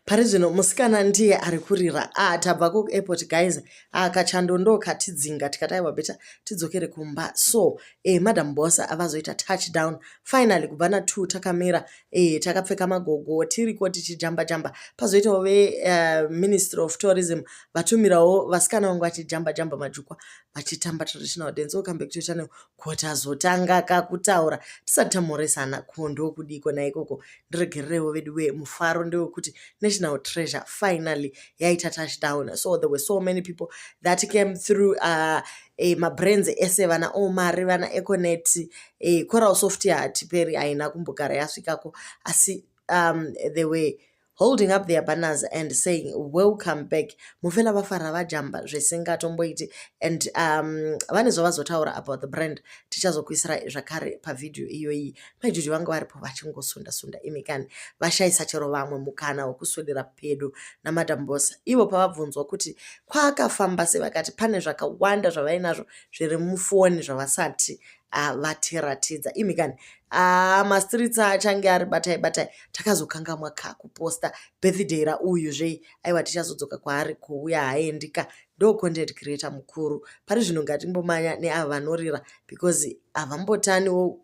pari zvino musikana ndiye ari kurira ah, tabva kuairport guys ah, kachando ndo katidzinga tikati aiwa beta tidzokere kumba so eh, madam bosa avazoita touchdown finally kubva na2 takamira eh, takapfeka magogo tiriko tichijamba jamba pazoitawo veministry eh, uh, of tourism vatumirawo vasikana vangu vachijamba jamba majukwa vachitamba traditional dance okambe kutoitane kuti azotanga kakutaura tisati tamhoresana ko ndokudiko naikoko ndiregererewo vedu wee mufaro ndewekuti national treasure finally yaita touchdown so there were so many people that came through uh, e, mabrands ese vana omari vana econet e, coral soft hatiperi haina kumbogara yasvikako asi um, they were holding up their banners and saying welcome back mufela vafara vajamba zvisingatomboiti and um, vane zvavazotaura about the brand tichazokuisira zvakare pavideo iyoyi majuju vanga varipo vachingosunda sunda imi kani vashaisa chero vamwe mukana wekuswedera pedo namadam bosa ivo pavabvunzwa kuti kwaakafamba se vakati pane zvakawanda zvavainazvo zviri mufoni zvavasati ah, vatiratidza imi kani ah, mastreets achange ari batai batai takazokangamwa ka kuposta birthday rauyu zvei aiwa tichazodzoka kwaari kuuya haendika ndo content creator mukuru pari zvino ngatimbomanya neavo vanorira because havambotaniwo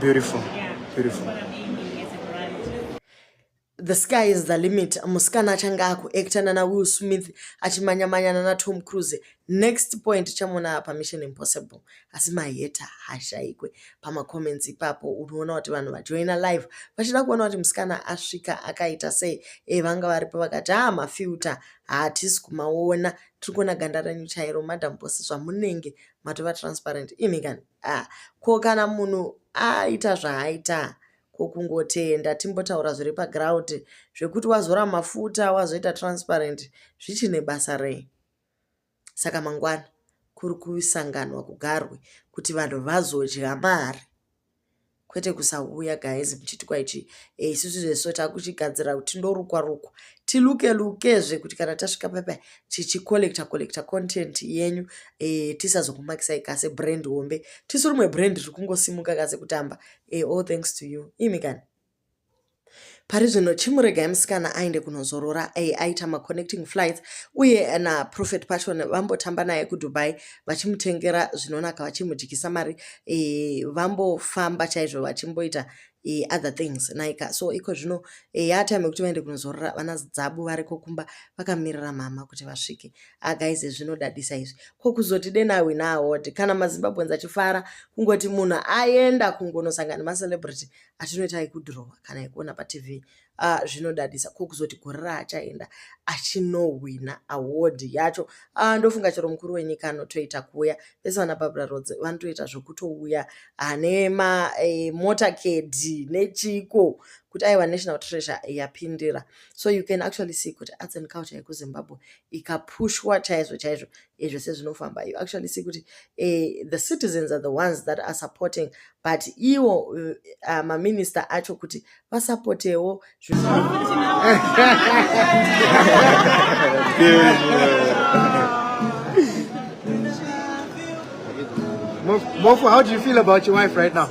Beautiful. Yeah. Beautiful. The sky is the limit. Musikana achange akuacta nana Will Smith achimanyamanya nana Tom Cruise. Next point chamona pa Mission Impossible. Asi maheta hashaikwe pama comments ipapo unoona kuti vanhu vajoina live vachida kuona kuti musikana asvika akaita sei. Eh vanga varipo vakati ah mafilter haatisi kumaona tiri kuona ganda renyu chairo madam boss zvamunenge matova transparent imi kani a ah, ko kana munhu aita zvaaita ko kungotenda timbotaura zviri paground zvekuti wazora mafuta wazoita transparent zvichine basa rei saka mangwana kuri kusanganwa kugarwe kuti vanhu vazodya mari kwete kusauya guys muchiti kwaichi eh, isusu zveso takuchigadzira kuti ndorukwa rukwa tiluke lukezve kuti kana tasvika papa tichicollecta collecta content yenyu e, tisazokumakisai kase brand hombe tisu rimwe brand riri kungosimuka kase kutamba e, all thanks to you imi kani pari zvino chimuregai musikana aende kunozorora ai aita maconnecting flights uye naprofet pashon vambotamba naye kudubai vachimutengera zvinonaka vachimudyisa mari e, vambofamba chaizvo vachimboita e, other things naika so iko zvino e, yatime yekuti vaende kunozorora vana dzabu variko kumba vakamirira mama kuti vasvike agaize ah, zvinodadisa izvi ko kuzoti denawi naawod kana mazimbabwens achifara kungoti munhu aenda kungonosangana nemacelebrity atinoita yekudhirowa kana yekuona patv uh, zvinodadisa ko kuzoti gore raachaenda achinohwina award yacho uh, ndofunga chero mukuru wenyika anotoita kuuya vese vana babra roads vanotoita zvekutouya uh, nema eh, motorcade nechiko kuti aiwa national treasure yapindira so you can actually see kuti arts and culture yekuzimbabwe ikapushwa chaizvo chaizvo ezvese zvinofamba you actually see kuti eh, the citizens are the ones that are supporting but iwo uh, eh, maminister acho kuti vasapotewo Mofu, how do you feel about your wife right now?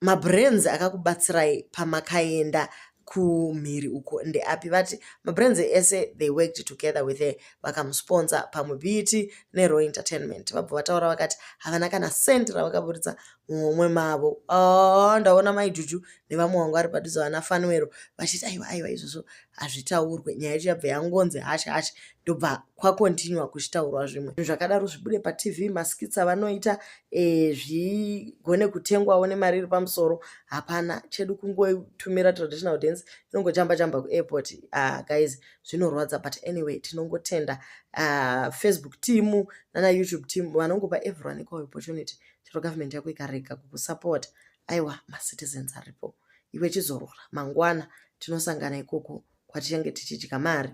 mabrands akakubatsirai pamakaenda kumhiri uko ndeapi vati mabrands ese they worked together with her vakamusponsor pamwe biti nerow entertainment vabva vataura vakati havana kana cent ravakaburitsa mumwe mavo oh, ndaona maijuju nevamwe wangu ari padhuze vana fanwero vachiti aiwa aiwa izvozvo hazvitaurwe nyaya yacho yabva yangonzi hashe hashe ndobva kwakontinua kuchitaurwa zvimwe zvakadaro zvibude patv maskitsa vanoita e, zvigone kutengwawo nemari iri pamusoro hapana chedu kungotumira traditional dance inongochamba chamba kuairport uh, guys zvinorwadza but anyway tinongotenda uh, facebook team nana youtube team vanongopa everyone equal opportunity chero government yako ikarega kukusapota aiwa macitizens aripo iwe chizorora mangwana tinosangana ikoko kwatichange tichidya mari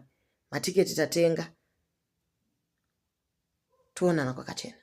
matiketi tatenga toonana kwakachena